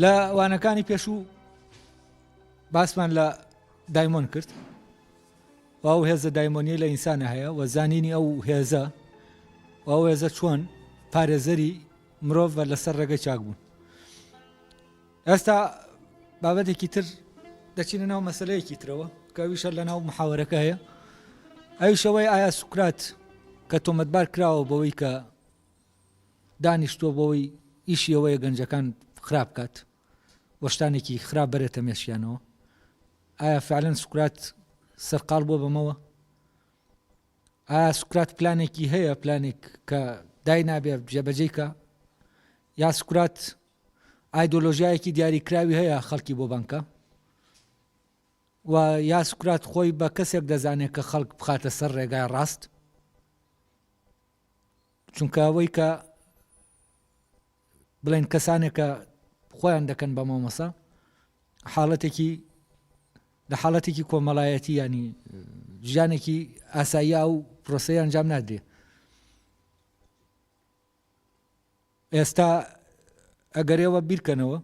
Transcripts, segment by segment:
لە وانەکانی پێشوو باسمان لە دایمۆن کرد و ئەو هێزە دایمۆنیە لە ئینسانە هەیە و زانینی ئەو هێزە و ئەو هێزە چۆن پارێزەری مرۆڤ بە لەسەر ڕێگەی چاک بوون ئێستا بابەتێکی تر دەچینە ناو مەسلەیەکی ترەوە کەویشە لە ناو محاوەرەکە هەیە ئەوشەوەی ئایا سوکرات کە تۆمەتبار کراوە بەوەی کە دانیشتووە بۆوەی ئیشی ئەوەیە گەنجەکان خراپ بکات و شتانێکی خراپ بەرێتە مێشکیانەوە ئایا فعلەن سوکرات سەرقال بووە بەمەوە ئایا سوکرات پلانێکی هەیە پلانێک کە دای نابێ جێبەجێکە یا سوکرات ئایدۆلۆژیایەکی دیاریکراوی هەیە خەڵکی بۆ بانکە و یا سوکرات خۆی بە کەسێک دەزانێت کە خەڵک بخاتە سەر ڕێگای ڕاست چونکە ئەوەی کە بڵێن کەسانێکە خۆیان دەکەن بە مامۆسا حاڵەتێکی لە حاڵەتێکی کۆمەڵایەتی ینی ژیانێکی ئاساییا و پرۆسەیان جام نادرێ ئێستا ئەگەر ئێوە بیرکەنەوە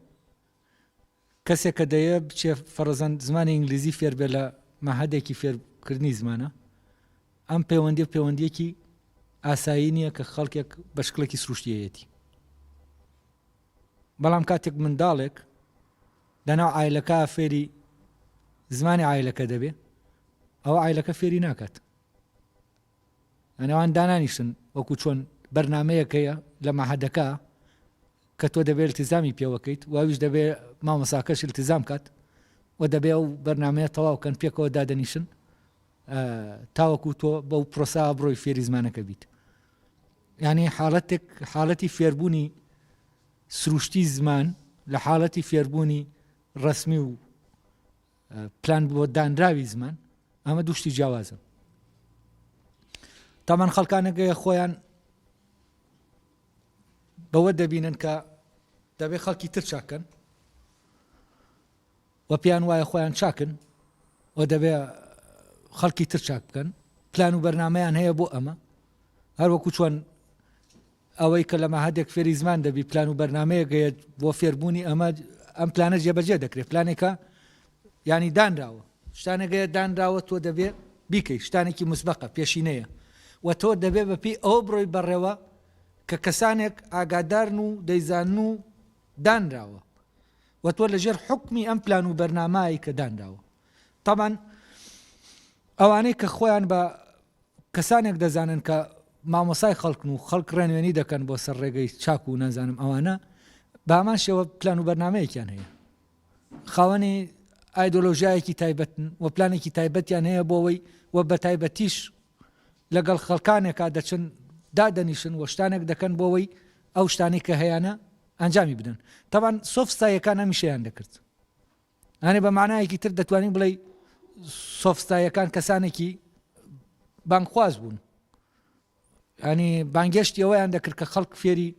کەسێک کە دەیەوێت بچێ فەرەزەن زمانی ئینگلیزی فێر بێ لە مەعهەدێکی فێرکردنی زمانە ئەم پەیوەندی پەیوەندیەکی ئاسایی نییە کە خەڵکێک بە شکڵێکی سروشتیەتی بەڵام کاتێک منداڵێک لەناو ئایلەکە فێری زمانی ئایلەکە دەبێ ئەو ئایلەکە فێری ناکات لەنێوان دانانیشتن وەکو چۆن بەرنامەیەک هەیە لە مەعهەدەکە کە تۆ دەبێت التیزامی پێوەکەیت و ئەویش دەبێت مامۆساکەش التیزام کات و دەبێ ئەو بەرنمەیە تەواوکەن پێکەوە دادەنیشن تاوەکو تۆ بەو پرۆسا بڕۆی فێری زمانەکە بیت یعنی حاڵەتێک حاڵەتی فێربوونی سروشتی زمان لە حاڵەتی فێربوونی ڕسمی و پلان بۆ دانراوی زمان ئەمە دوشتی جیاوازن تامان خەڵکانەگەیە خۆیان بەوە دەبینن کە دەبێ خەڵکی تر چاکەن و پێیان وایە خۆیان چاکن و دەبێ خەڵکی تر چاک بکەن پلان و بەرنمەیان هەیە بۆ ئەمە هەروەکو چۆن ئەوەی کە لە مەعهەدێک فێری زمان دەبی پلان و بەرنامەیەک هەیەت بۆ فێربوونی ئەمە ئەم پلانە جێبەجێ دەکرێت پلانێکە یانی دانراوە شتانێک هەیە دانراوە تۆ دەبێ بیکەی شتانێکی مسبقە پێشینەیە و تۆ دەبێ بەپی ئەو بڕۆی بەڕێوە کە کەسانێک ئاگادارن و دەیزان و دانراوە و تۆ لەژێر حکمی ئەم پلان و بەرنامایی کە دانراوە تامان ئەوانەی کە خۆیان بە کەسانێک دەزانن کە مامۆسای خەڵکن و خەڵک ڕێنوێنی دەکەن بۆ سەر ڕێگەی چاک و نازانم ئەوانە بە هەمان شێوە پلان و بەرنمەیەکیان هەیە خاوەنی ئایدۆلۆژیایەکی تایبەتن و پلانێکی تایبەتیان هەیە بۆەوەی و بە تایبەتیش لەگەڵ خەڵکانێکا دەچن دادەنیشن و شتانێک دەکەن بۆەوەی ئەو شتانی کە هەیەە ئەنجامی بدەن تاوان سۆفستایەکان ئەمیشیان دەکرد یانی بە مانایەکی تر دەتوانی بڵێی سۆفستاییەکان کەسانێکی بانگخواز بوون ینی بانگێشتی ئەوەیان دەکرد کە خەڵک فێری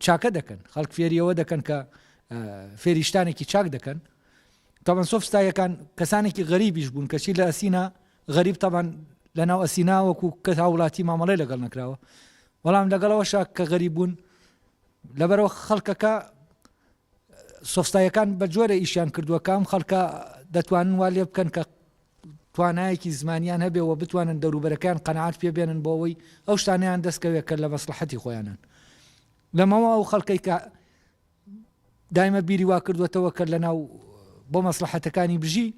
چاکە دەکەن خەڵک فێریەوە دەکەن کە فێریشتانێکی چاک دەکەن تاوان سۆفستایەکان کەسانێکی غەریبیش بوون کەچی لە ئەسینا غەریب تاوان لە ناو ئەسینا وەکو کە هاوڵاتی مامەڵی لەگەڵ نەکراوە بەڵام لەگەڵەوە شاک کە غەریبوون لەبەرەوە خەڵکەکە سۆفسایەکان بە جۆرە ئیشیان کردووە کە ئەم خەڵکە دەتوانن وا لێ بکەن کە توانایەکی زمانیان هەبێ و بتوانن دەوروبەرەکەیان قەناعەت پێ بێنن بۆ ئەوەی ئەو شتانەیان دەستکەوێت کە لە مەسڵەحەتی خۆیانن لەمەوە ئەو خەڵکەی کە دایمە بیری وا کردوێتەوە کە لەناو بۆ مەسلحەتەکانی بژی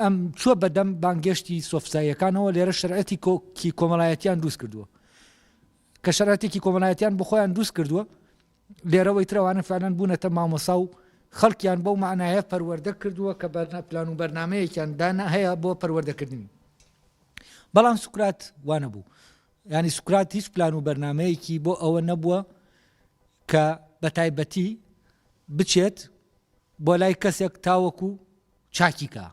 ئەم چوە بەدەم بانگێشتی سۆفساییەکانەوە لێرە شرعەتی کۆکی کۆمەڵایەتیان دروست کردووە کە شراتێکی کۆمەڵایەتیان بخۆیان دروست کردووە لێرەوەی تر ئەوانە فەعلەن بوونەتە مامۆسا و خەڵکیان بەو مەعنایە پەروەردە کردووە کە پلان و بەرنامەیەکیان دانا هەیە بۆ پەروەردەکردنی. بەڵام سوکرات وا نەبوو. یانی سوکرات هیچ پلان و بەرنمەیەکی بۆ ئەوە نەبووە کە بە تایبەتی بچێت بۆ لای کەسێک تاوەکو چاکیکە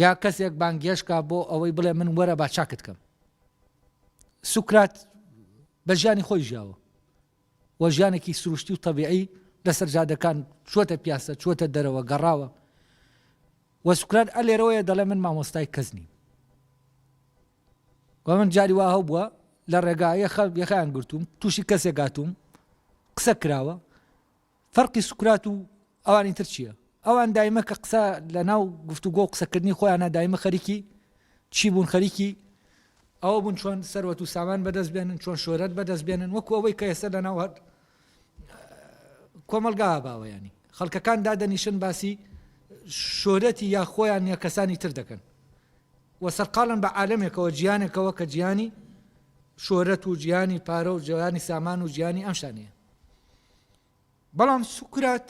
یا کەسێک بانگێشت کا بۆ ئەوەی بڵێ من وەرە با چاکت کەم سوکرات بە ژیانی خۆی ژیاوە وە ژیانێکی سروشتی و تەبیعی لەسەر جادەکان چوەتە پیاسە چوەتە دەرەوە گەڕاوە وە سوکرات ئە لێرەوەیە دەڵێ من مامۆستای کەس نیم وە من جاری وا هەو بووە لە ڕێگا یەخە یەخیان گرتووم تووشی کەسێک گاتووم قسە کراوە فەرقی سوکرات و ئەوانی تر چیە؟ ئەوان دایمە کە قسە لە ناو گفتوگۆ قسەکردنی خۆیانە دایمە خەریکی چی بوون خەریکی ئەوە بوون چۆن سەروەت و سامان بەدەست بێنن چۆن شۆرەت بەدەست بێنن وەکو ئەوەی کە ئێستا لە ناو هەر کۆمەلگا باوەیانی خەڵکەکان دادەنیشن باسی شۆرەتی یا خۆیان یا کەسانی تر دەکەن و سەرقالن بە عالمێکەوە جیانێکەوە کە جیانی شۆرەت و جیانی پارە و جیانی سامان و جیانی ئەمشانە بەڵام سوکرات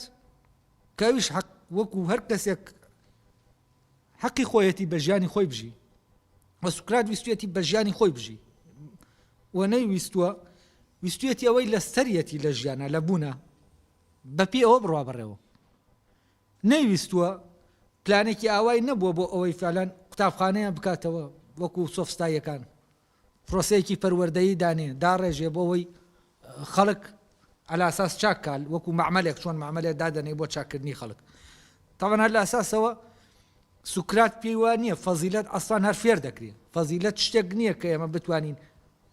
کە ئەویش حەق وەکو هەر کەسێک حەقی خۆیەتی بە ژیانی خۆی بژی و سوکرات ویستێتی بە ژیانی خۆی بژی و نەی ویستووە ویستێتی ئەوەی لە سەرەتی لە ژیانە لە بوونە بەپی ئەوە بڕوا بڕێەوە نەیویستووە پلانێکی ئاوای نەبووە بۆ ئەوەی فالان قوتابخانەیە بکاتەوە وەکو سۆفستاییەکان پرۆسەیەکی پەروەردەیی دانێ داڕێژێ بۆ ئەوەی خەڵک علی اساس چاک کا وەکو معملێک چۆن معملێ دادەنێ بۆ چاککردنی خەڵک تاوان هەر لە ئەساسەوە سوکرات پێی وا نییە فەزیلەت ئەسان هەر فێر دەکرێت فەزیلەت شتێک نییە کە ئێمە بتوانین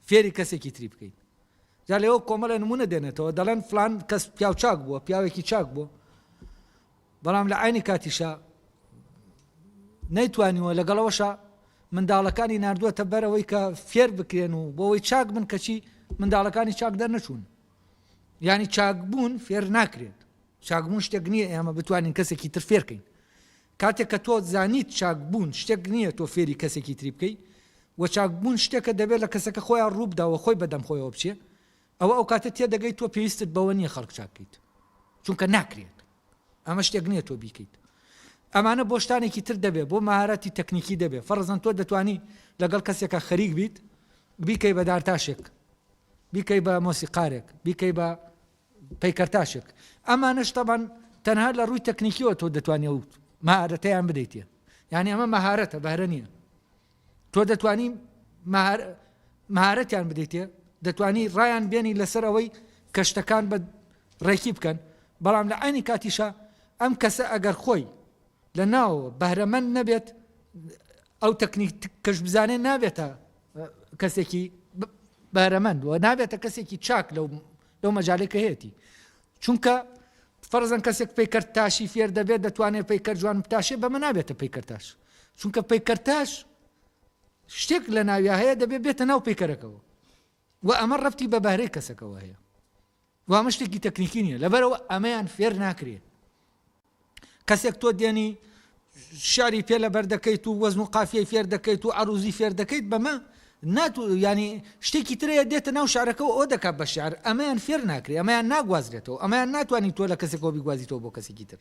فێری کەسێکی تری بکەین جا لەوە کۆمەڵە نمونە دێنێتەوە دەڵێن فلان کەس پیاو چاک بووە پیاوێکی چاک بووە بەڵام لە عەینی کاتیشا نەیتوانیوە، لەگەڵ ئەوەشا منداڵەکانی ناردووەتە بەر ئەوەی کە فێر بکرێن و بۆ ئەوەی چاک بن کەچی منداڵەکانی چاک دەرنەچوون یانی چاکبوون فێر ناکرێت چاکبوون شتێک نییە ئێمە بتوانین کەسێکی تر فێرکەین کاتێک کە تۆ زانیت چاکبوون شتێک نییە تۆ فێری کەسێکی تری بکەیت و چاکبوون شتێکە دەبێت لە کەسەکە خۆیان ڕووبداوە خۆی بەدەم خۆیەوە بچێ ئەوە ئەوکاتە تێدەگەی تۆ پێویستت بەوە نییە خەڵک چاک بکەیت چونکە ناکرێت ئەمە شتێک نییە تۆ بیکەیت ئەمانە بۆ شتانێکی تر دەبێت بۆ مهارەتی تەکنیکی دەبێت فەرزەن تۆ دەتانی لەگەڵ کەسێکە خەریک بیت بیکەی بە دارتاشێک بیکەی بە مۆسیقارێک بیکەی بە پەیکەرتاشێک ئەمانە شتەبان تەنها لە ڕووی تەکنیکیەوە تۆ دەتوانێت مهارەتەیان بدەیتێ یعنی ئەمە مهارەتە بەرە نییە تۆ دەتوانی مهارەتیان بدەیتێ دەتوانی ڕایان بێنی لەسەر ئەوەی کە شتەکان بە ڕێکی بکەن بەڵام لە عینی کاتیشە ئەم کەسە ئەگەر خۆی لە ناو بەهرەمەند نەبێت ئەو تەکنیک کەش بزانێت نابێتە کەسێکی بەرەمەند و نابێتە کەسێکی چاک لەو لەو مەجالێک کە هەیەی چونکە فەرزەن کەسێک پیکرد تاشی فێر دەبێت دەتوانێت پیکرد جوان بتاشێ بەمە نابێتە پیکردتاش چونکە پەیکەرتاش شتێک لە ناویا هەیە دەبێت بێتە ناو پەیکەرەکەەوە و ئەمە ڕفتی بە بەهرەی کەسەکەەوە هەیە وامە شتێکی تەکنیکی نیە لەبەرەوە ئەمەیان فێر ناکرێ کەسێک تۆ دێنی شاری پێ لە بەر دەکەیت و وەزن و قافیەی فێر دەکەیت و عروزی فێر دەکەیت بەمە ناتو ینی شتێکی ترەیە دێتە ناو شارەکە ئەو دەکات بە شار ئەمەیان فێر ناکرێ ئەمەیان ناگوازرێتەوە ئەمەیان ناتوانانی تۆ لە کەسێکەوە بیگوازیتەوە بۆ کەسێکی تر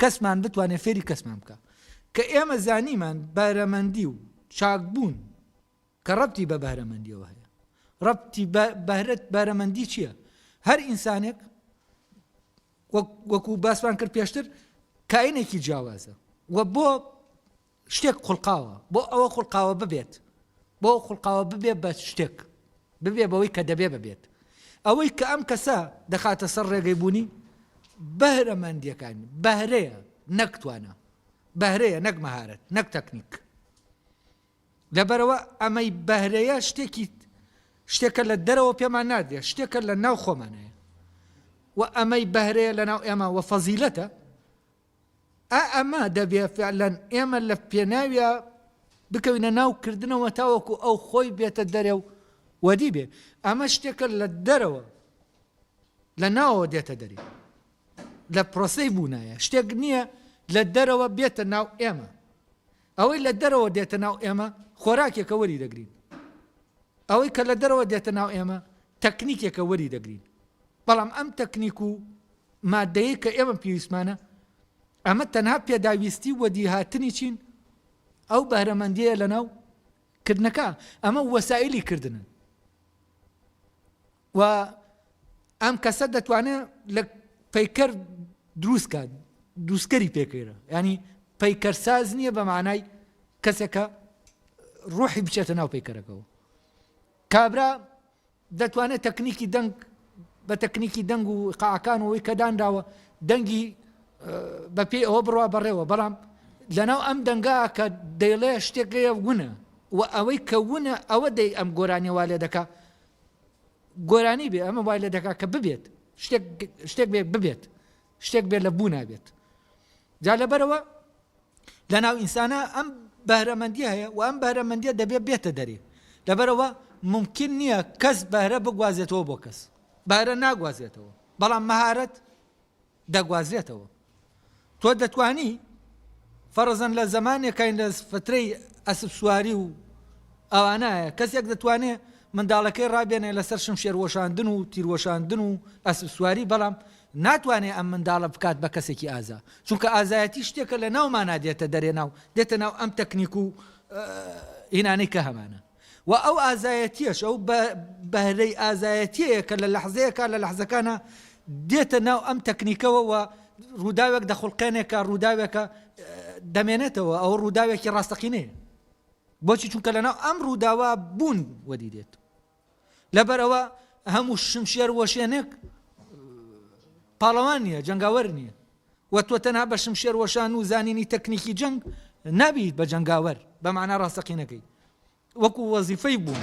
کەسمان بتوانێ فێری کەسمان بکا. کە ئێمە زانیمان بەهرەمەندی و چاک بوون کە ڕەبتی بە بەهرەمەندیەوە هەیە. ڕەبتی بە بەهرەت بەرەمەندی چییە؟ هەر ئینسانێک وەکو باسمان کرد پێشتر کاینێکی جیاوازە و بۆ شتێک خوڵقاوە بۆ ئەوە خوڵقاوە ببێت بۆ ئەوە خوڵقاوە ببێت بە شتێک ببێ بەوەی کە دەبێ ببێت ئەوەی کە ئەم کەسە دەخاتە سەر ڕێگەی بوونی بەهرەمەندیەکان بەهرەیە نەکتوانە بەهرەیە نەک مەهارەت نەک تەکنیک لەبەرەوە ئەمەی بەهرەیە شتێکی شتێکە لە دەرەوە پێمان نادرێت شتێکە لە ناو خۆمانەیە و ئەمەی بەهرەیە لە ناو ئێمە وە فەزیلەتە ئا ئەمە دەبێ فعلەن ئێمە لە پێناویا بکەوینە ناو کردنەوە تاوەکو ئەو خۆی بێتە دەرێ و وەدی بێ. ئەمە شتێکە لە دەرەوە لە ناوەوە دێتە دەرێ. لە پرۆسەی بوونایە. شتێک نییە لە دەرەوە بێتە ناو ئێمە. ئەوەی لە دەرەوە دێتە ناو ئێمە خۆراکێکە وەری دەگرین. ئەوەی کە لە دەرەوە دێتە ناو ئێمە تەکنیکێکە وەری دەگرین. بەڵام ئەم تەکنیک و ماددەیەی کە ئێمە پێویستمانە، ئەمە تەنها پێداویستی وەدیهاتنی چین؟ ئەو بەهرەمەندیەیە لەناو کردنەکە، ئەمە وەسائیلی کردنن و ئەم کەسە دەتوانێت لە پەیکەر دروست کات دووسکەری پێکەیرە ینی پەیکەر ساز نییە بە مانای کەسێکە ڕوحی بچێتە ناو پەیکەرەکەەوە کابرا دەتوانێت تەکنیکی دەنگ بە تەکنیکی دەنگ و قاعەکان و ئەوەی کە دانراوە دەنگی بە پێی ئەوە بڕوا بەڕێوە بەڵام لەناو ئەم دەنگا کە دەیڵێ شتێکەیە ونە و ئەوەی کە ونە ئەوە دەی ئەم گۆرانی وا لێ دەکا گۆرانی بێ ئەمە وای لە دەکا کە ببێت شتێک بێ ببێت شتێک بێت لە بوو نابێت جا لەبەرەوە لە ناو ئینسانە ئەم بەهرەمەندی هەیە و ئەم بەهرەمەندیە دەبێت بێتە دەرێ لەبەرەوە ممکن نییە کەس بەهرە بگوازێتەوە بۆ کەس بەهرە ناگوازێتەوە بەڵام مەهارەت دەگوازرێتەوە تۆ دەتانی فەرزەن لە زمانێکین لە فترەی ئەسب سواری و ئەوانایە کەسێک دەتوانێت منداڵەکەی ڕابێنێ لەسەر شم شێروەشاندن و تیروەشاندن و ئەسب سواری بەڵام ناتوانێ ئەم منداڵە بکات بە کەسێکی ئازا چونکە ئازایەتی شتێکە لە ناو مانا دێتە دەرێ ناو دێتە ناو ئەم تەکنیک و ئینانەی کە هەمانە و ئەو ئازایەتیەش ئەو بەهرەی ئازایەتیەیە کە لە لەحزەیەکە لە لەحزەکانە دێتە ناو ئەم تەکنیکەوە و ڕووداوێک دەخڵقێنێکە ڕووداوێکە دەمێنێتەوە ئەو ڕووداوێکی ڕاستەقینەیە بۆچی چونکە لەناو ئەم ڕووداوە بوون وەدی دێت لەبەر ئەوە هەموو شمشێر وەشێنێک پاڵەوان نییە جەنگاوەر نییە و تۆ تەنها بە شمشێر وەشان و زانینی تەکنیکی جەنگ نابیت بە جەنگاوەر بە معنا ڕاستەقینەکەی وەکو وەزیفەی بوون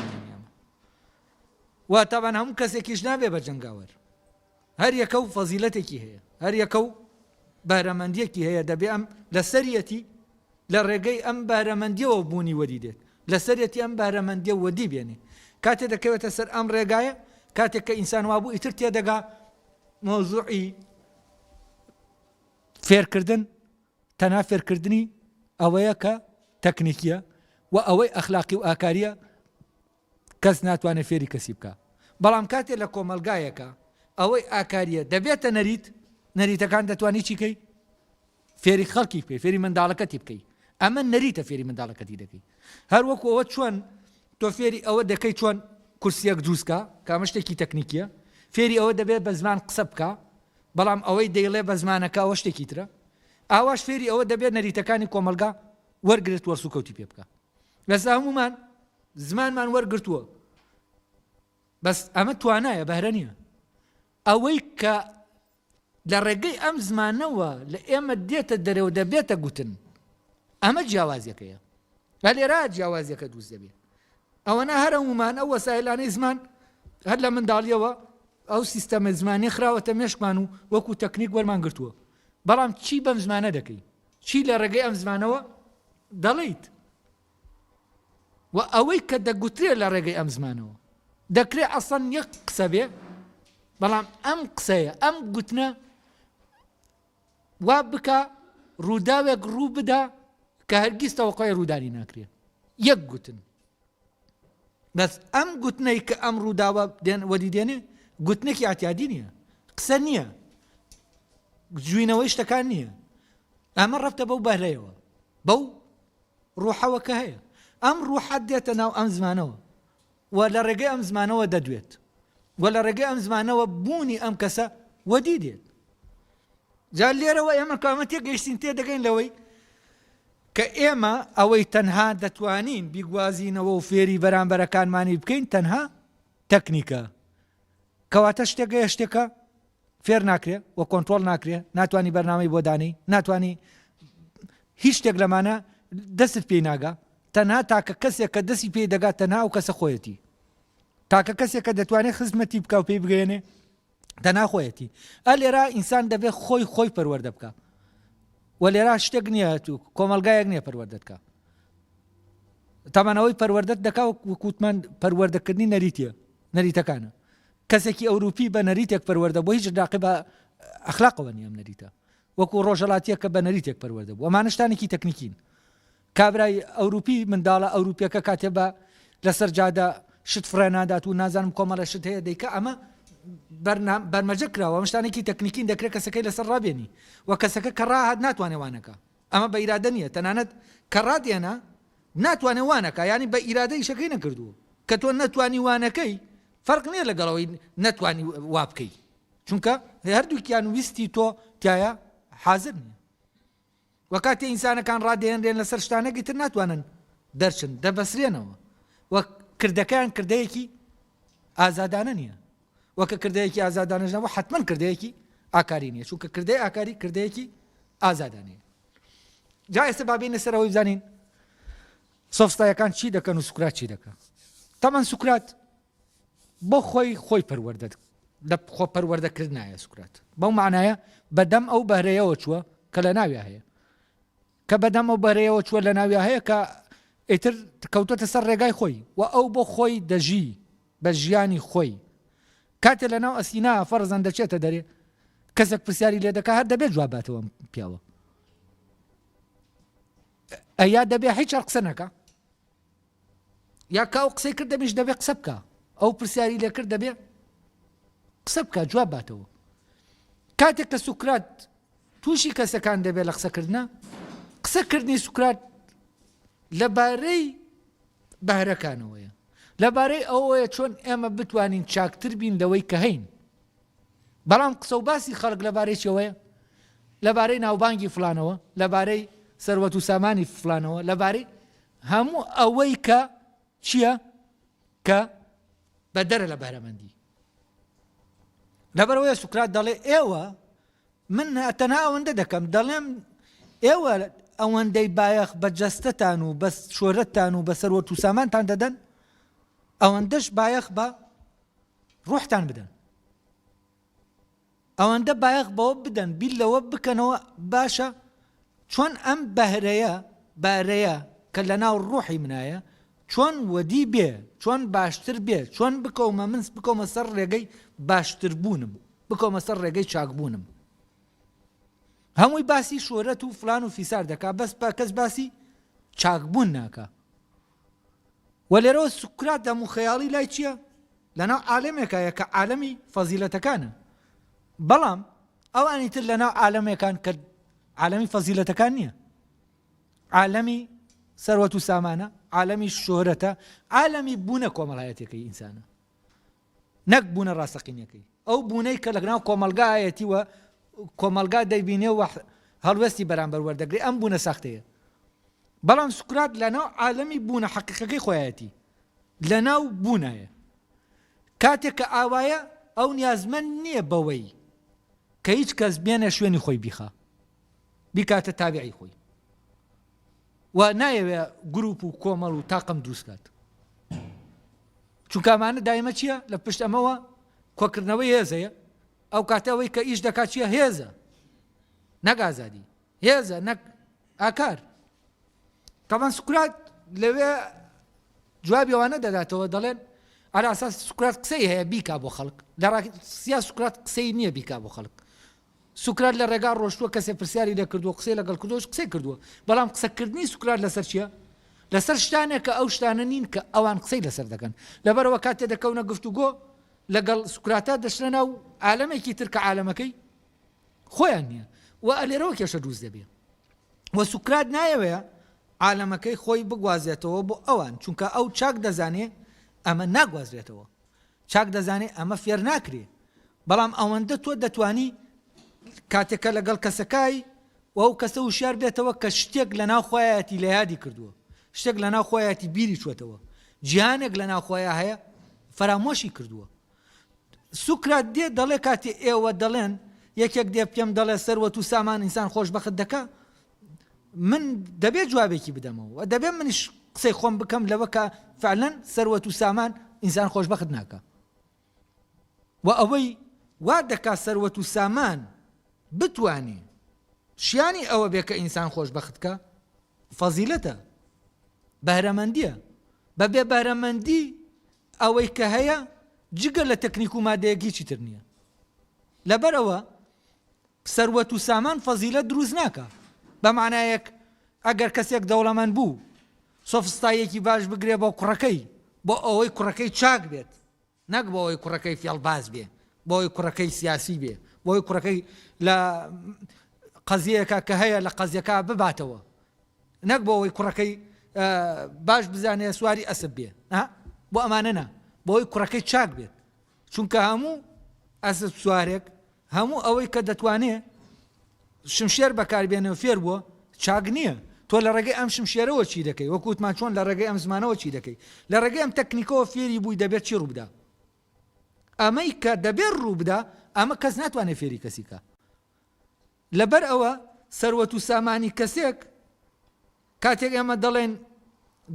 واتەبان هەموو کەسێکیش نابێ بە جەنگاوەر هەر یەکە و فەزیلەتێکی هەیە، هەر یەکە و بەهرەمەندییەکی هەیە، دەبێ ئەم لە سەریەتی لە ڕێگەی ئەم بەهرەمەندییەوە بوونی وەدی دێت، لە سەریەتی ئەم بەهرەمەندییە وەدی بێنێ. کاتێ دەکەوێتە سەر ئەم ڕێگایە، کاتێک کە ئینسان وا بوو ئیتر تێ دەگا مەوزوعی فێرکردن تەنها فێرکردنی ئەوەیە کە تەکنیکییە و ئەوەی ئەخلاقی و ئاکارییە، کەس ناتوانێت فێری کەسی بکا بەڵام کاتێ لە کۆمەڵگایەکا ئەوەی ئاکاریە دەبێتە نەریت نەریتەکان دەتوانی چی کەی فێری خەڵکی بکەی فێری منداڵەکەتی بکەی ئەمە نەریتە فێری منداڵەکەتی دەکەی هەر وەکو ئەوە چۆن تۆ فێری ئەوە دەکەی چۆن کورسیەک دروستکە کامە شتێکی تەکنیکیە فێری ئەوە دەبێت بە زمان قسە بکە بەڵام ئەوەی دەیڵێ بە زمانەکە ئەوە شتێکی ترە ئاواش فێری ئەوە دەبێت نەریتەکانی کۆمەلگا وەرگرت وەرسوکەوتی پێ بکە لەسا هەمومان زمانمان وەرگرتووە بەس ئەمە توانایە بەهرە نییە ئەوەی کە لە ڕێگەی ئەم زمانەوە لە ئێمە دێتە دەرەوە دەبێتە گوتن ئەمە جیاوازیەکەیە لە لێرا جیاوازیەکە دووست دەبێت ئەوەنا هەرە ومان ئەو وەسایلانەی زمان هەر لە منداڵیەوە ئەو سیستەمە زمانی خراوەتە مێشکمان و وەکو تەکنیک وەرمان گرتووە بەڵام چی بەم زمانە دەکەی چی لە ڕێگەی ئەم زمانەوە دەڵیت و ئەوەی کە دەگوترێ لە ڕێگەی ئەم زمانەوە دەکرێ ئەسڵەن یەک قسە بێ بەڵام ئەم قسەیە ئەم گوتنە وا بکە ڕووداوێک ڕوو بدا کە هەرگیز تەوەقای ڕوودانی ناکرێت یەک گوتن بەس ئەم گوتنەی کە ئەم ڕووداوە دێن وەدی دێنێ گوتنێکی ئاتیادی نییە قسە نییە جوینەوەی شتەکان نییە ئەمە ڕفتە بەو بەرەیەوە بەو ڕوحەوە کە هەیە. ئەم ڕوحە دێتە ناو ئەم زمانەوە و لە ڕێگەی ئەم زمانەوە دەدوێت و لە ڕێگەی ئەم زمانەوە بوونی ئەم کەسە وەدی دێت. جا لێرەوە ئێمە کامە تێگەیشتین تێ دەگەین لەوەی کە ئێمە ئەوەی تەنها دەتوانین بیگوازینەوە و فێری بەرامبەرەکانمانی بکەین تەنها تەکنیکە کەواتە شتێکە شتێکە فێر ناکرێ و کۆنترۆڵ ناکرێ، ناتوانی بەرنامەی بۆ دانێی، ناتوانی هیچ شتێک لەمانە دەستت پێی ناگا، تەنها تاکە کەسێک کە دەستی پێی دەگات تەنها ئەو کەسە خۆیەتی، تاکە کەسێک کە دەتوانێت خزمەتی بکا و پێی بگەیەنێ تەنها خۆیەتی، ئە لێرا ئینسان دەبێت خۆی خۆی پەروەردە بکا و لێرا شتێک نییە تو کۆمەلگایەک نییە پەروەردە بکا تەمانەوەی پەروەردەت دەکا و کووتمان پەروەردەکردنی نەریتە نەریتەکانە. کەسێکی ئەوروپی بە نەریتێک پەروەردە بووە، هیچ لاقی بە ئەخلاقەوە نییە ئەم نەریتە. وەکوو ڕۆژهەڵاتییەک کە بە نەریتێک پەروەردە بوو. ئەمانە شتانێکی تەکنیکین. کابرای ئەوروپی، منداڵە ئەوروپییەکە کاتێ بە لە سەر جادە شت فڕێ نادات و نازانم کۆمەڵێ شت هەیە دەیکا، ئەمە بەرنا بەرمەجە کراوە. ئەمە شتانێکی تەکنیکین دەکرێ کەسەکەی لەسەر ڕابێنی و کەسەکە کە ڕاهات ناتوانێ وا نەکا. ئەمە بە ئیرادە نیە تەنانەت کە ڕات ئێنا ناتوانێ وا نەکا یانی بە ئیرادە ئیشەکەی نەکردووە کە تۆ نەتوانی وا نەکەی فەرق نیە لەگەڵ ئەوەی نەتوانی وا بکەی چونکە هەردووکیان ویستی تۆ تایە حازر نیە وە کاتێ ئینسانەکان ڕادێنرێن لەسەر شتانەکی تر ناتوانن دەرچن دەبەسرێنەوە وە کردەکەیان کردەیەکی ئازادانە نیە وە کە کردەیەکی ئازادانەش نەبوو حەتمەن کردەیەکی ئاکاری نیە چونکە کردەی ئاکاری کردەیەکی ئازادانەیە جا ئێستا با بینە سەرەوەی بزانین سۆفستایەکان چی دەکەن و سوکرات چی دەکەن تەمان سوکرات بۆ خۆی خۆی پەروەەردە لە خۆ پەروەەردەکردایە سوکرات بەو معناە بەدەم ئەو بەرەیەوە چووە کە لە ناوی هەیە کە بەدەم ئەو بەرەیەوە چووە لەناویا هەیە کە ئیتر کەوتۆتە سەر ڕێگای خۆی و ئەو بۆ خۆی دەژی بە ژیانی خۆی کاتێ لەناو ئەسینا فەرزەن دەچێتە دەرێ کەسێک پرسیاری لێ دەکە هەر دەبێت جواب باتەوە پیاوە ئەیا دەبێ هیچ قسە نەکە یا کە ئەو قسەی کرد دەمیش دەبێ قسە بکا ئەو پرسیاری لێ کرد دەبێ قسە بکە جواب باتەوە کاتێک کە سوکرات تووشی کەسەکان دەبێت لە قسەکردە قسەکردنی سوکرات لەبارەی بەهرەکانەوەیە لەبارەی ئەوەیە چۆن ئێمە بتوانین چاکتر بین لەوەی کە هەین بەڵام قسە و باسی خەڵک لەبارەی چەوەیە لەبارەی ناوبانگی فلانەوە لەبارەی سەروەت و سامانی فلانەوە لەبارەی هەموو ئەوەی کە چییە کە بەدەرە لە بەرەمەندی لەبەرەوەی سوکرات دەڵێ ئێوە من تەنها ئەوەندە دەکەم دەڵێم ئێوە ئەوەندەی بایەخ بە جەستتان و بە شۆرەتتان و بە سەروەت و سامانتان دەدەن ئەوەندەش بایەخ بە ڕوحتان بدەن ئەوەندە بایەخ بەوە بدەن بیر لەوە بکەنەوە باشە چۆن ئەم بەهرەیە، بارەیە، کە لەناو ڕوحی منایە چۆن وەدی بێ، چۆن باشتر بێ، چۆن بکەومە من بکەومە سەر ڕێگەی باشتر بوونم، بکەومە سەر ڕێگەی چاک بوونم. هەمووی باسی شۆرەت و فلان و فیسار دەکا بەس با کەس باسی چاک بوون ناکا. وە لێرەوە سوکرات دەم و خەیاڵی لای چیە؟ لەناو عالەمێکایە کە عالەمی فەزیلەتەکانە بەڵام ئەوانی تر لەناو عالەمێکان کە عالەمی فەزیلەتەکان نییە عالەمی سەروەت و سامانە عالەمی شۆرەتە عالەمی بوونە کۆمەڵایەتەکەی ئینسانە نەک بوونە ڕاستەقینەکەی، ئەو بوونەی کە لەناو کۆمەڵگا هەیەتی و کۆمەڵگا دەیبینێ و هەڵوێستی بەرامبەر وەردەگرێ ئەم بوونە ساختەیە. بەڵام سوکرات لەناو عالەمی بوونە حەقیقەکەی خۆیەتی، لەناو بوونایە. کاتێک کە ئاوایە ئەو نیازمەند نییە بەوەی کە هیچ کەس بێنە شوێنی خۆی بیخا، بیکاتە تابعی خۆی. و نایەوێ گروپ و کۆمەڵ و تاقم دروست کات چونکامانە دایمە چییە لە پشت ئەمەوە کۆکردنەوەی هێزەیە ئەو کاتەوەی کە ئیش دەکات چیە هێزە نەگازادی هێزە نەک ئاکار تەمان سوکرات لەوێ جوابی ئەوانە دەداتەوە دەڵێن ئەراساس سوکرات قسەی هەیە بیکا بۆ خەڵک لە سیا سوکرات قسەی نییە بیکا بۆ خەڵک سوکرات لە ڕێگا ڕۆشتووە کەسێ پرسیاری لێ کردووە قسەی لەگەڵ کردووەش قسەی کردووە بەڵام قسە کردنی سوکرات لەسەر چیە لەسەر شتانێک کە ئەو شتانە نین کە ئەوان قسەی لەسەر دەکەن لەبەرەوە کاتێ دەکەونە گفتوگۆ لەگەڵ سوکراتە دەشنە ناو عالەمێکی تر کە عالەمەکەی خۆیان نییە و ئەلێرەوە کێشە دروست دەبێ و سوکرات نایەوەیە عالەمەکەی خۆی بگوازێتەوە بۆ ئەوان چونکە ئەو چاک دەزانێ ئەمە ناگوازرێتەوە چاک دەزانێ ئەمە فێر ناکرێ بەڵام ئەوەندە تۆ دەتوانی کاتێک کە لەگەڵ کەسەکای و ئەو کەسە وشیار بێتەوە کە شتێک لە ناو خۆیەتی لە یادی کردووە شتێک لە ناو خۆیەتی بیری چوەتەوە جیهانێک لە ناو خۆیان هەیە فەرامۆشی کردووە سوکرات دێ دەڵێ کاتی ئێوە دەڵێن یەکێک دێ پێم دەڵێ سەروەت و سامان ئینسان خۆشببخت دەکە من دەبێ جوابێکی بدەمەوە و دەبێ منیش قسەی خۆم بکەم لەوە کە فعلەن سەروەت و سامان ئینسان خۆشببخت ناکە و ئەوەی وا دەکا سەروەت و سامان بتانی شیانی ئەوە بێ کە ئینسان خۆشببختکە فەزیلەتە بەرەمەندیە بە بێ بەرەمەندی ئەوەی کە هەیە جگە لە تەکنیک و مادەیەکیی تر نییە لەبەرەوە سەروەت و سامان فەزیلەت دروست ناکا بە مانایەک ئەگەر کەسێک دەوڵەمەند بوو سۆفستاییەکی باش بگرێ بۆ کوڕەکەی بۆ ئەوەی کوڕەکەی چاک بێت نەک بۆ ئەوەی کوڕەکەی فێڵباز بێ بۆ ئەوەی کوڕەکەی سیاسی بێ بۆ ئەوەی کوڕەکەی لە قەزیەکە کە هەیە لە قەزیەکە بباتەوە نەک بۆ ئەوەی کوڕەکەی باش بزانێ سواری ئەسب بێ بۆ ئەمانە نا بۆی کوڕەکەی چاک بێت چونکە هەموو ئەسپ سوارێک هەموو ئەوەی کە دەتوانێ شمشێر بەکاربێنێ و فێر بووە چاک نییە تۆ لە ڕێگەی ئەم شمشێرەوە چی دەکەی وەکووتمان چۆن لە ڕێگەی ئەم زمانەوە چی دەکەی لە ڕێگەی ئەم تەکنیکەوە فێری بووی دەبێت چی ڕووبدا ئەمەی کە دەبێت ڕووبدا ئەمە کەس ناتوانێت فێری کەسیکە لەبەر ئەوە سەروەت و سامانی کەسێک کاتێک ئێمە دەڵێن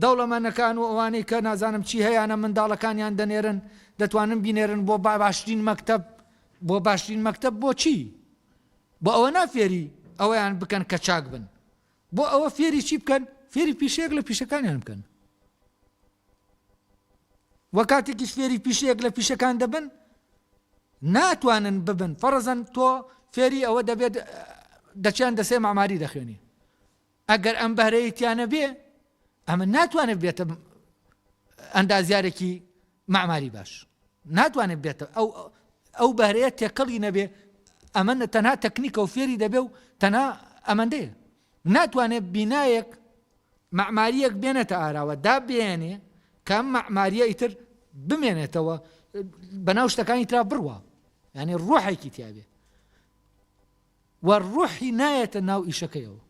دەوڵەمەنەکان و ئەوانەی کە نازانم چی هەیەە منداڵەکانیان دەنێرن دەتوانن بینێرن بۆ با باشترین مەکتب بۆ باشترین مەکتب بۆچی بۆ ئەوە نافێری ئەویان بکەن کە چاک بن بۆ ئەوە فێری چی بکەن فێری پیشەیەک لە پیشەکانیان بکەن وە کاتێکیش فێری پیشەیەک لە پیشەکان دەبن ناتوانن ببن فەرزەن تۆ فێری ئەوە دەبێت دەچیان دەسێ ماماری دەخوێنی ئەگەر ئەم بەرەیەتیانە بێ ئەمە ناتوانێت بێتە ئەندازیارێکی ماماری باش ناتوانێت بێتە ئەو ئەو بەرەیە تێکەڵی نەبێ ئەمە تەنها تەکنیکە و فێری دەبێ و تەنها ئەمەندەیە ناتوانێت بینایەک مەعمارییەک بێنێتە ئاراوە دابیەنێ کە ئەم مەعمارییە ئیتر بمێنێتەوە بەناو شتەکانی ترا بڕوا یعنی ڕۆحێکی تیاێ و ڕۆحی نایەتە ناو ئیشەکەیەوە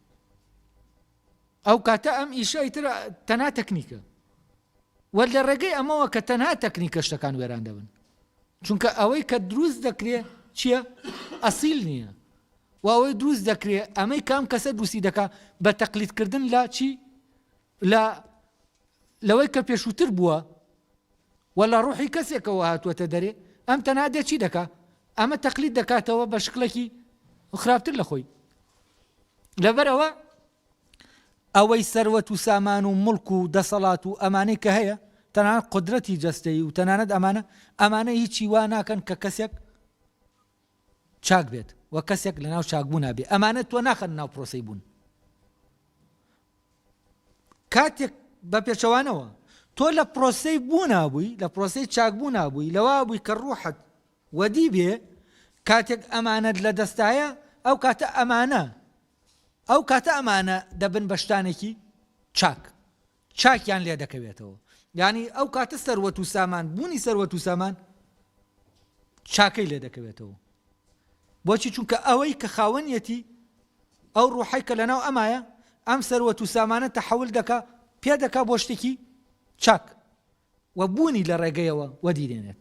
ئەو کاتە ئەم ئیشە ئیتر تەنا تەکنیکە و لە ڕێگەی ئەمەوە کە تەنها تەکنیکە شتەکان وێران دەبن چونکە ئەوەی کە دروست دەکرێ چییە ئەسیل نییە و ئەوەی دروست دەکرێ ئەمەی کە ئەم کەسە دروستی دەکا بە تەقلید کردن لە چی لە لەوەی کە پێشووتر بووە و لە ڕوحی کەسێکەوە هاتووەتە دەرێ ئەم تەنها دێ چی دەکا ئەمە تەقلید دەکاتەوە بە شکلێکی خراپتر لە خۆی لەبەرەوە ئەوەی سەروەت و سامان و ملک و دەسەڵات و ئەمانەی کە هەیە تەنان قدرەتی جەستەی و تەنانەت ئەمانە ئەمانە هیچی وا ناکەن کە کەسێک چاک بێت و کەسێک لەناو چاکبوونا بێ ئەمانە تۆ ناخەن ناو پرۆسەی بوون کاتێک بە پێچەوانەوە تۆ لە پرۆسەی بوو نابووی لە پرۆسەی چاک بوو نابووی لەوا بووی کە ڕوحت وەدی بێ کاتێک ئەمانەت لە دەستایە ئەو کاتە ئەمانە ئەو کاتە ئەمانە دەبن بەشتانێکی چاک چاکیان لێ دەکەوێتەوە یانی ئەو کاتە سەروەت و سامان بوونی سەروەت و سامان چاکەی لێ دەکەوێتەوە بۆچی چونکە ئەوەی کە خاوەنیەتی ئەو ڕوحی کە لەناو ئەمایە ئەم سەروەت و سامانە تەحول دەکا پێ دەکا بۆ شتێکی چاک و بوونی لە ڕێگەیەوە وەدی دێنێت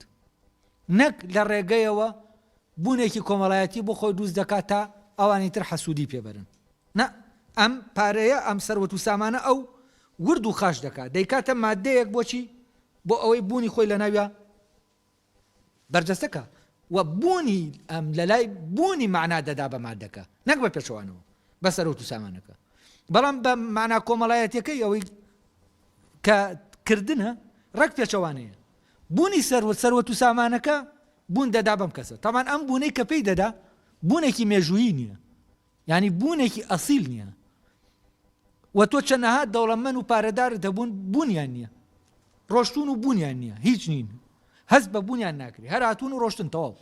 نەک لە ڕێگەیەوە بوونێکی کۆمەڵایەتی بۆ خۆی دروست دەکات تا ئەوانی تر حەسوودی پێ بەرن نا ئەم پارەیە ئەم سەروەت و سامانە ئەو ورد و خاش دەکات دەیکاتە مادەیەک بۆچی بۆ ئەوەی بوونی خۆی لە ناویا بەرجەستەکە و بوونی ئەم لەلای بوونی مەعنا دەدا بە مادەکە نەک بە پێچەوانەوە بە سەرۆت و سامانەکە بەڵام بە مانا کۆمەڵایەتەکەی ئەوەی کە کردنە ڕەک پێچەوانەیە بوونی سەروەت سەروەت و سامانەکە بوون دەدا بەم کەسە تامان ئەم بوونەی کە پێی دەدا بوونێکی مێژوویی نییە یانی بوونێکی ئەسیل نییە و تۆ چەنەها دەوڵەمەن و پارەدارت هەبوون بوونیان نییە ڕۆشتون و بوونیان نییە هیچ نین هەست بە بوونیان ناکری هەراتون و ڕۆشتن تەواو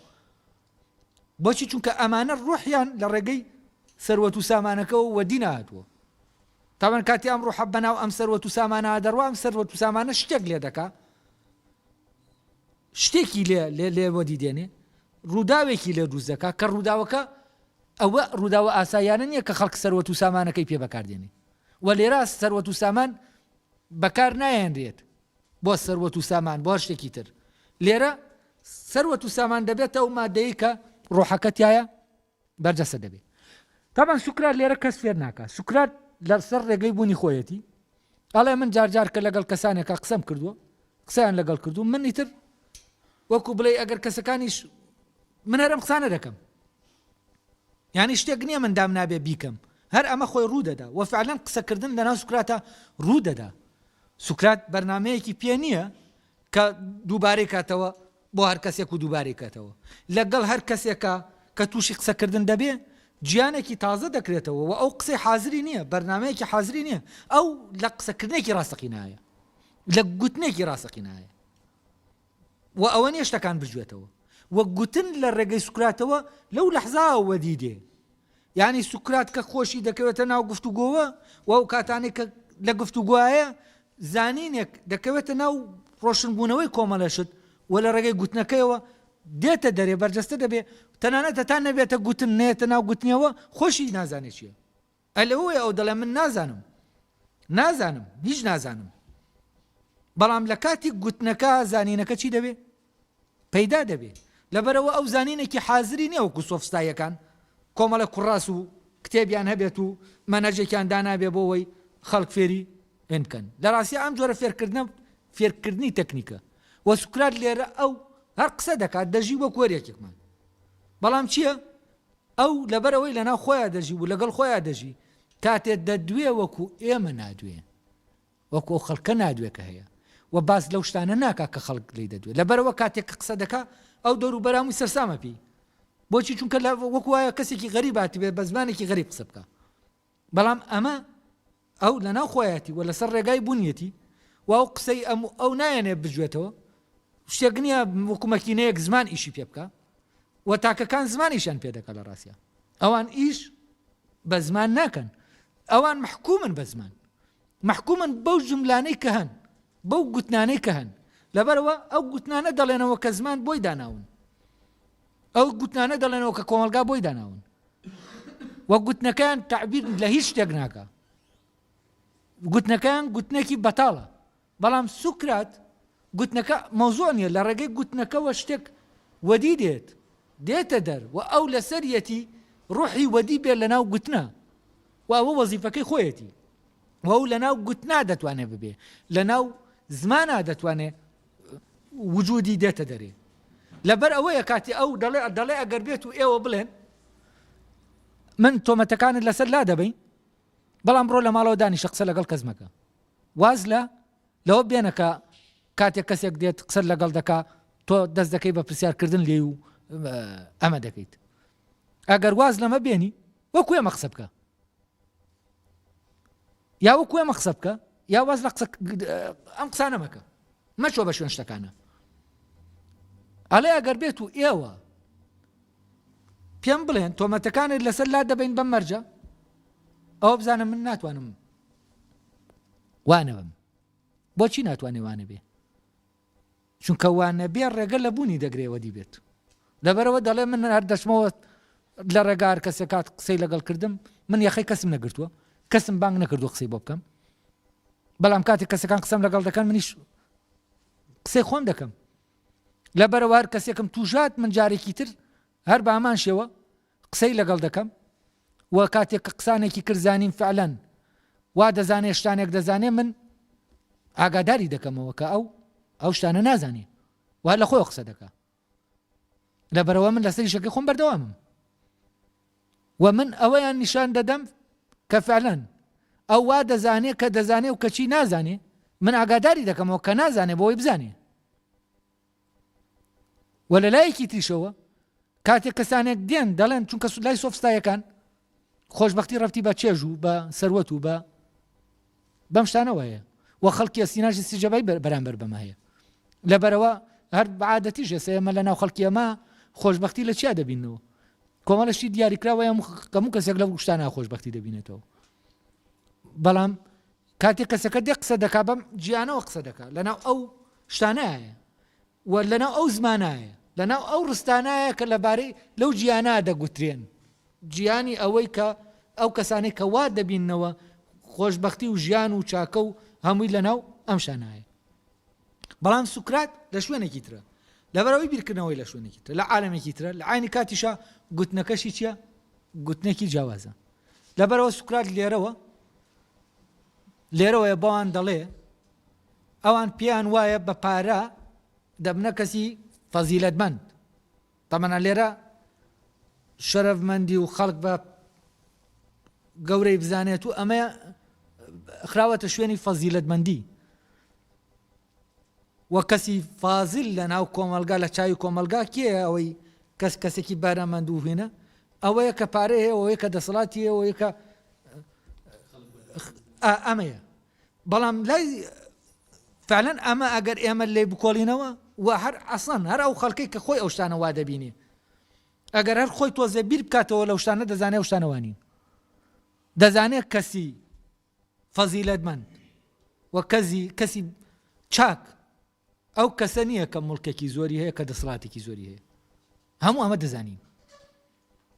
بۆچی چونکە ئەمانە ڕوحیان لە ڕێگەی سەروەت و سامانەکەەوە وەدی نهاتووە تاوان کاتی ئەم ڕوحە بەناو ئەم سەروەت و سامانە دەڕوام سەروەت و سامانە شتێک لێ دەکا شتێکی لێ لێ لێ وەدی دێنێ ڕووداوێکی لێ دروست دەکا کە ڕووداوەکە ئەوە ڕووداوە ئاساییانە نییە کە خەڵک سەروەت و سامانەکەی پێ بەکار دێنێت و لێرە سەروەت و سامان بەکار نایەنرێت بۆ سەروەت و سامان بۆ هەر شتێکی تر لێرە سەروەت و سامان دەبێت ئەو مادەیە کە ڕۆحەکەتیایە بەرجەسە دەبێت تامان سوکرات لێرە کەس فێر ناکە سوکرات لەسەر ڕێگەی بوونی خۆیەتی ئەڵێ من جار جار کە لەگەڵ کەسانێکا قسەم کردووە قسەیان لەگەڵ کردو من ئیتر وەکو بڵێ ئەگەر کەسەکانیش من هەرم قسانە دەکەم یعنی شتێک نییە من دام نابێ بیکەم هەر ئەمە خۆی ڕوودەدا وە فعلەن قسەکردن لەناو سوکراتە ڕوودەدا سوکرات بەرنمەیەکی پێ نییە کە دووبارەی کاتەوە بۆ هەر کەسێک و دووبارەی کەتەوە لە گەڵ هەر کەسێکا کە تووشی قسە کردن دەبێ جیانێکی تازە دەکرێتەوە وە ئەو قسەی حازری نیە بەرنامەیەکی حازری نیە ئەو لە قسە کردنێکی ڕاستەقینایە لە گوتنێکی ڕاستەقینایە وە ئەوە نیە شتەکان بجوێتەوە وە گوتن لە ڕێگەی سوکراتەوە لەو لەحزا وەدی دێ یعنی سوکرات کە خۆشی دەکەوێتە ناو گفتوگۆوە و ئەو کاتانی کە لە گفتوگوایە زانینێک دەکەوێتە ناو ڕۆشنبوونەوەی کۆمەڵە شت و لە ڕێگەی گوتنەکەیەوە دێتە دەرێ، بەرجەستە دەبێ، تەنانەت هەتا نەبێتە گوتن، نەیەتە ناو گوتنیەوە، خۆشی نازانێ چییە. ئەی لەوەوەیە ئەو دەڵێ من نازانم، نازانم، هیچ نازانم. بەڵام لە کاتی گوتنەکە زانینەکە چی دەبێ؟ پەیدا دەبێ، لەبەرئەوە ئەو زانینێکی حازری نیە وەکو سۆفستاییەکان کۆمەڵێک کوڕاس و کتێبیان هەبێت و مەنهەجێکیان دانابێ بۆ وەی خەڵک فێری علم بکەن لەڕاستیا ئەم جۆرە فێرکردنە فێرکردنی تەکنیکە وە سوکرات لێرە ئەو هەر قسە دەکات دەژی وەک وەریەکێکمان بەڵام چییە ئەو لەبەرەوەی لەناو خۆیان دەژی و لەگەڵ خۆیان دەژی کاتێ دەدوێ وەکو ئێمە نادوێ وەکو ئەو خەڵکە نادوێ کە هەیە و باس لەو شتانە ناکا کە خەڵک لێی دەدوێ لەبەرئەوە کاتێک کە قسە دەکا ئەو دەوروبەرە هەمووی سەرسامە پێی بۆچی چونکە لە وەکو وایە کەسێکی غەریب هاتبێ بە زمانێکی غەریب قسە بکە بەڵام ئەمە ئەو لەناو خۆیەتی و لەسەر ڕێگای بوونیەتی و ئەو قسەی ئەم ئەو نایەنێ بجوێتەوە شتێک نییە وکومەکینەیەک زمان ئیشی پێ بکە و تاکەکان زمانیشان پێ دەکە لە ڕاستە ئەوان ئیش بە زمان ناکەن ئەوان محکومن بە زمان مەحکومن بەو جوملانەی کە هەن، بەو گوتنانەی کە هەن، لەبەرئەوە ئەو گوتنانە دەڵێنەوە کە زمان بۆی داناون، ئەو گوتنانە دەڵێنەوە کە کۆمەڵگا بۆی داناون و گوتنەکەیان تەعبیر لە هیچ شتێک ناکە گوتنەکەیان گوتنێکی بەتاڵە بەڵام سوکرات گوتنەکە مەوزوع نیە لە ڕێگەی گوتنەکەەوە شتێک وەدی دێت دێتە دەر و ئەو لەسەریەتی ڕوحی وەدی بێت لە ناو گوتنە و ئەوە وەزیفەکەی خۆیەتی و ئەو لەناو گوتنا دەتوانێت ببێ لەناو زمانا دەتوانێت وجودی دێتە دەرێ لەبەر ئەوەیە کاتی ئەو دەڵێ دەڵێ ئەگەر بێت و ئێوە بڵێن من تۆمەتەکانت لەسەر لا دەبین بەڵام بڕۆ لە ماڵەوە دانیشە قسە لەگەڵ کەس مەکە واز لە لەوە بێنەکە کاتێک کەسێک دێت قسە لەگەڵ دەکا تۆ دەست دەکەی بە پرسیارکردن لێ و ئەمە دەکەیت ئەگەر واز لەمە بێنی وەکو ئێمە قسە بکە یا وەکو ئێمە قسە بکە یا واز لە قسە ئەم قسانە مەکە مەچۆ بە شوێن شتەکانە ئەڵێ ئەگەر بێت و ئێوە پێم بڵێن تۆمەتەکانت لەسەر لا دەبین بەم مەرجە ئەو بزانە من ناتوانم وانەوەم بۆچی ناتوانێ وانە بێ چونکە وا نەبێ ڕێگە لە بوونی دەگرێ وەدی بێت لەبەرەوە دەڵێ من هەر دەچمەوە لە ڕێگا هەر کەسێک کات قسەی لەگەڵ کردم من یەخەی کەسم نەگرتووە کەسم بانگ نەکردو قسەی بۆ بکەم بەڵام کاتی کەسەکان قسەم لەگەڵ دەکەن منیش قسەی خۆم دەکەم لەبەرەوە هەر کەسێکم توژات من جارێکی تر هەر بامان شێوە قسەی لەگەڵ دەکەم و کاتێک کە قسانێکی کرد زانیم فعلەن وا دەزانێ شتانێک دەزانێ من ئاگاداری دەکەمەوە کە ئەو ئەو شتانە نازانێ وا لە خۆی قسە دەکە لە بەرەوە من لەسەری شەکە خۆم بەردەوامم و من ئەوەیان نیشان دەدەم کە فعلەن ئەو وا دەزانێ کە دەزانێ و کەچی نازانێ من ئاگاداری دەکەمەوە کە نازانێ بۆی بزانێ وە لە لایەکی تریشەوە کاتێک کەسانێک دێن دەڵێن چونکە لای سۆفستایەکان خۆشببختی ڕفتی بە چێژ و بە سەروەت و بە بەم شتانەوە هەیە و خەڵکی سیناژی سیجەبای بەرامبەر بەمە هەیە لەبەرەوە هەر بەعادەتی ژێسە ئێمە لە ناو خەڵکی ئەمە خۆشببختی لە چیا دەبینەوە کۆمەڵشتی دیاریکراوەیە کەمو کەسێک لە گوشتانە خۆشببختی دەبینێتەوە بەڵام کاتێ کەسەکە دێ قسە دەکا بەم جیانەوە قسە دەکا لەناو ئەو شتانایە و لەناو ئەو زمانایە لەناو ئەو ڕستانایە کە لەبارەی لەو جیانا دەگوترێن جیانی ئەوەی کە ئەو کەسانەی کە وا دەبینەوە خۆشببختی و ژیان و چاکە و هەمووی لەناو ئەم شانایە بەڵام سوکرات لە شوێنێکی ترە لەبەرەوەی بیرکردنەوەی لە شوێنێکی تر لە عالمێکی ترە لە عینی کاتیشە گوتنەکەشی چییە گوتنێکی جیاوازە لەبەرئەوە سوکرات لێرەوە لێرەوەیە بەوان دەڵێ ئەوان پێیان وایە بە پارە دەبنە کەسی فەزیلەتمەند تەمەە لێرە شەرەفمەندی و خەڵک بە گەورەی بزانێت و ئەمە خراوەتە شوێنی فەزیلەتمەندی وە کەسی فازیل لە ناو کۆمەڵگا لە چاوی کۆمەڵگا کێیە ئەوەی کەس کەسێکی بەرەمەند و هینە ئەوەیە کە پارەی هەیە ئەوەیە کە دەسەڵاتی هەیە ئەوەیە کە ئەمەیە بەڵام لای فعلا ئەمە ئەگەر ئێمە لێ بکۆڵینەوە و هەر ئەسان هەر ئەو خەڵکەی کە خۆی ئەو شتانە وا دەبینی ئەگەر هەر خۆی تۆزێ بیر بکاتەوە لەو شتانە دەزانێ ئەو شتانەوانین دەزانێت کەسی فەزیلەتمەند و کەزی کەسی چاک ئەو کەسە نییە کە مڵکێکی زۆری هەیە کە دەسڵاتێکی زۆری هەیە هەموو ئەمە دەزانین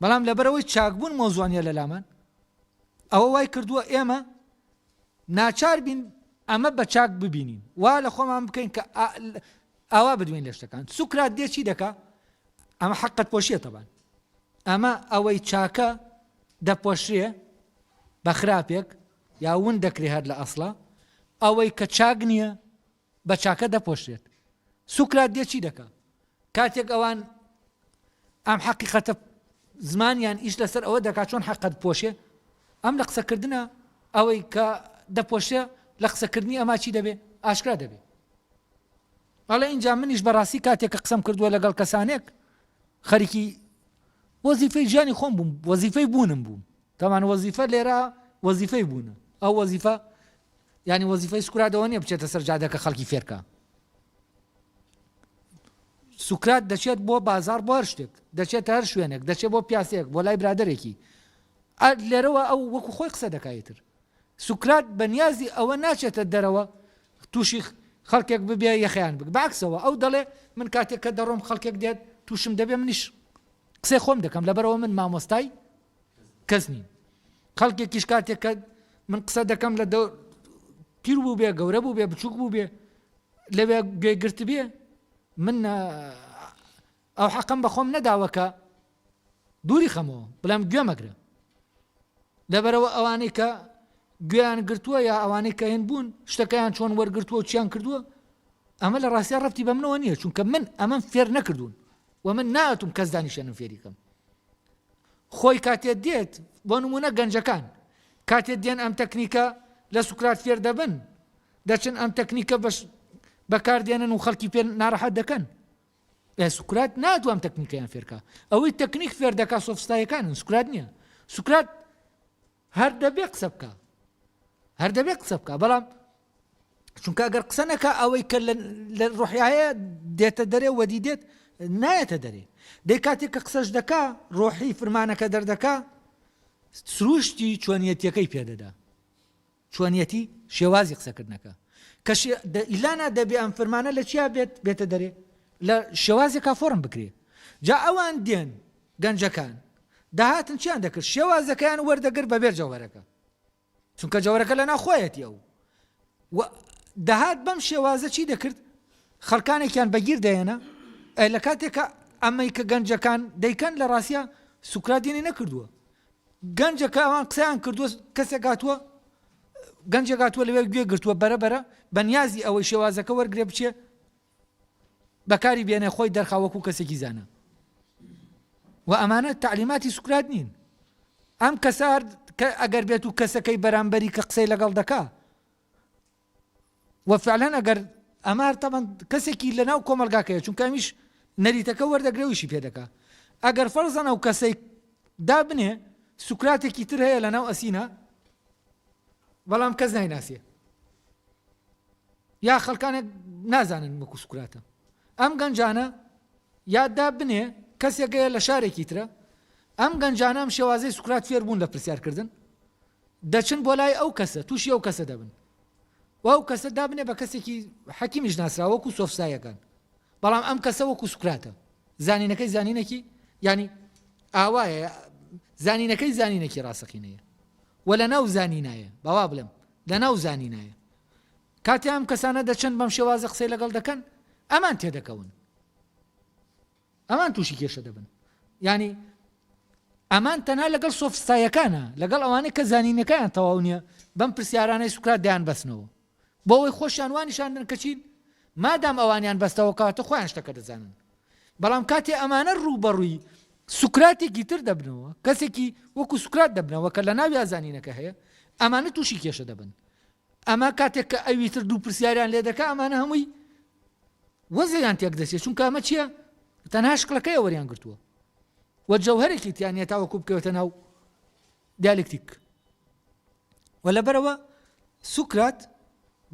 بەڵام لەبەرەوەی چاکبوون مۆزوانە لە لامان ئەوە وای کردووە ئێمە ناچار بین ئەمە بە چاک ببینین وا لە خۆمان بکەین کە ئاوا بدوێن لە شتەکان سوکرات دێچی دەکا ئەمە حەقت پۆشیە تەبان ئەمە ئەوەی چاکە دەپۆشرێ بە خراپێک یا ون دەکرێ هەر لە ئەسڵە ئەوەی کە چاک نییە بە چاکە دەپۆشرێت سوکرات دێ چی دەکە کاتێک ئەوان ئەم حەقیقەتە زمانیان ئیش لەسەر ئەوە دەکات چۆن حەقەت پۆشێ ئەم لە قسەکردە ئەوەی کە دەپۆشێ لە قسەکردنی ئەما چی دەبێ ئاشکرا دەبێ ئەڵێ ئینجا منیش بەڕاستی کاتێک کە قسەم کردووە لەگەڵ کەسانێک خەریکی وەزیفەی ژیانی خۆم بووم وەزیفەی بوونم بووم تامان وەزیفە لێرە وەزیفەی بوونە ئەو وەزیفە ینی وەزیفەی سکرادەوە نیە بچێتە سەر جادەکە خەڵکی فێرکە سوکرات دەچێت بۆ بازار بۆ هەر شتێک دەچێت هەر شوێنێک دەچێت بۆ پیاسێک بۆ لای برادێکی لێرەوە ئەو وەکو خۆی قسە دەکایتر سوکرات بە نیازی ئەوە ناچێتە دەرەوە تووشی خەڵکێک ببێ یەخەیان بگ بەعکسەوە ئەو دەڵێ من کاتێک کە دەڕۆم خەڵکێک دێت تووشم دەبێ منیش قسەی خۆم دەکەم لەبەرەوە من مامۆستای کەس نیم خەڵکێکیش کاتێک کە من قسە دەکەم لە دەور پیر بوو بێ گەورە بوو بێ بچووک بوو بێ لەوێ گوێگرت بێ من ئەو حەقەم بە خۆم نەداوە کە دووری خەمەوە بڵێم گوێ مەگرە لەبەرەوە ئەوانەی کە گوێیان گرتووە یا ئەوانەی کە هێن بوون شتەکەیان چۆن وەرگرتووە و چیان کردووە ئەمە لە ڕاستیا ڕفتی بە منەوە نییە چونکە من ئەمەم فێر نەکردوون و من ناتوم کەس دانیشێنم فێریکەم خۆی کاتێت دێت بۆ نمونە گەنجەکان کاتێت دێن ئەم تەکنیکە لە سوکرات فێر دەبن دەچن ئەم تەکنیکە بەش بەکاردێنن و خەڵکی پێ ناڕەحەت دەکەن سوکرات ناتوان ئەم تەکنیکەیان فێر کا. ئەوەی تەکنیک فێر دەکا سۆفستایەکانن سوکرات نییە. سوکرات هەر دەبێ قسە بکە. هەر دەبێ قسە بکە بەڵام چونکە گەر قسە نەکە ئەوەی کە لە ڕۆحیایە دێتە دەرێ وەدی دێت نایەتە دەرێ. دەی کاتێک کە قسەش دەکا ڕۆحی فرمانەکە دەردەکا سروشتی چۆنیەتەکەی پێدەدا. چۆنیەتی شێوازی قسەکردنەکە کە شێ دە ئیلانا دەبێ ئەم فرمانە لە چیا بێت بێتە دەرێ لە شێوازێکا فۆڕم بکرێ جا ئەوان دێن گەنجەکان دەهاتن چیان دەکرد شێوازەکەیان وەردەگر بەبێر جەوهرەکە چونکە جەوهرەکە لە ناخۆیەتی ئەو و دەهات بەم شێوازە چی دەکرد خەڵکانێکیان بەگیر دەێنە لە کاتێکە ئەمەی کە گەنجەکان دەیکەن لە ڕاستە سوکراتێنی نەکردووە گەنجە کە ئەوان قسەیان کردووە کەسێک هاتووە گەنجێک هاتووە لەوێ گوێ گرتووە بەرە بەرە بە نیازی ئەوەی شێوازەکە وەرگێ بچێ بەکاری بێنێ خۆی دەرخاوەکو کەسێکی زانە و ئەمانە تعلیماتی سوکرات نین ئەم کەسار کە ئەگەر بێت و کەسەکەی بەرامبەری کە قسەی لەگەڵ دەکا وە فعلەن ئەگەر ئەمار تەبەن کەسێکی لە ناو کۆمەلگا کەیە چونکە ئەمیش نەریتەکە وەردەگرێ ویشی پێ دەکا ئەگەر فەرزەن ئەو کەسەی دا بنێ سوکراتێکی تر هەیە لە ناو ئەسینا بەڵام کەس نایناسیێ یا خەلکانێک نازانن مەکو سوکراتە ئەم گەنجانە یاددا بنێ کەسێکەیە لە شارێکی ترە ئەم گەنجانام شێوازی سوکرات فێربوون لە پرسیارکردن دەچن بۆ لای ئەو کەسە تووشی ئەو کەسە دەبن و ئەو کەسە دابنێ بە کەسێکی حەکیمیش ناسرا وەکو سۆفسایەکان بەڵام ئەم کەسە وەکو سوکراتە زانینەکەی زانینەکی ینی ئاوایە زانینەکەی زانینەکی ڕاستەقینەیە و لە ناو زانینایە بەوا بڵێم لە ناو زانینایە کاتی ئەم کەسانە دەچن بەم شێوازە قسەی لەگەڵ دەکەن ئەمان تێدەکەون ئەمان تووشی کێشە دەبن یانی ئەمان تەنها لەگەڵ سۆفستایەکانە لەگەڵ ئەوانەی کە زانینەکەیان تەواو نییە بەم پرسیارانەی سوکرات دەیان بەسنەوە بۆەوەی خۆشیان وانیشاندن کەچین مادام ئەوانیان بەستەوە کاتە خۆیان شتەکە دەزانن بەڵام کاتێ ئەمانە ڕوو بەڕووی سوکراتێکی تر دەبنەوە کەسێکی وەکو سوکرات دەبنەوە کە لە ناوی زانینەکە هەیە ئەمانە تووشی کێشە دەبن ئەمە کاتێک کە ئەوی تر دوو پرسیاریان لێ دەکا ئەمانە هەمووی وەزعیان تێک دەچێت چونکە ئەمە چییە تەنها شکلەکەی وەریان گرتووە وە جەوهرێکی تیان نیە تاوەکو بکەوێتە ناو دیالکتیک و لەبەرەوە سوکرات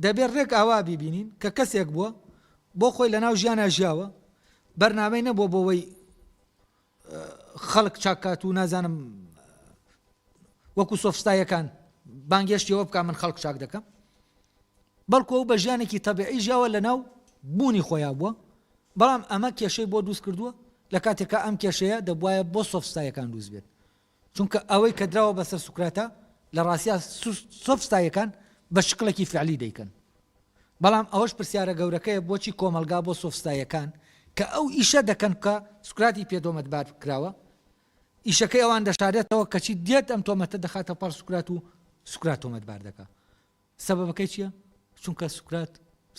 دەبێت ڕێک ئاوا بیبینین کە کەسێک بووە بۆ خۆی لە ناو ژیانە ژیاوە بەرنامەی نەبووە بۆەوەی خەڵک چاک کات و نازانم وەکو سۆفستا یەکان بانگێشتی ئەوە بکە من خەڵک چاک دەکەم بەڵکو ئەو بە ژیانێکی تەبعی ژیاوە لە ناو بوونی خۆیان بووە بەڵام ئەمە کێشەی بۆ دروست کردووە لە کاتێکا ئەم کێشەیە دەبواە بۆ سۆفستایەکان دروست بێت چونکە ئەوەی کە دراوە بە سەر سوکراتە لە ڕاستیا سۆفستایەکان بە شکڵێکی فعلی دەیکەن. بەڵام ئەوەش پرسیارە گەورەکەیە بۆچی کۆمەڵگا بۆ سۆفستایەکان کە ئەو ئیشە دەکەن کە سوکراتی پێ دۆمەتبار کراوە ئیشەکەی ئەوان دەشارێتەوە کەچی دێت ئەم تۆمەتە دەخاتە پاڕ سوکرات و سوکرات تۆمەتبار دەکا سەبەکەی چییە؟ چونکە سوکرات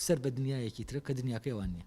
سەر بە دنیایەکی ترە کە دنیاکەیوان نییە.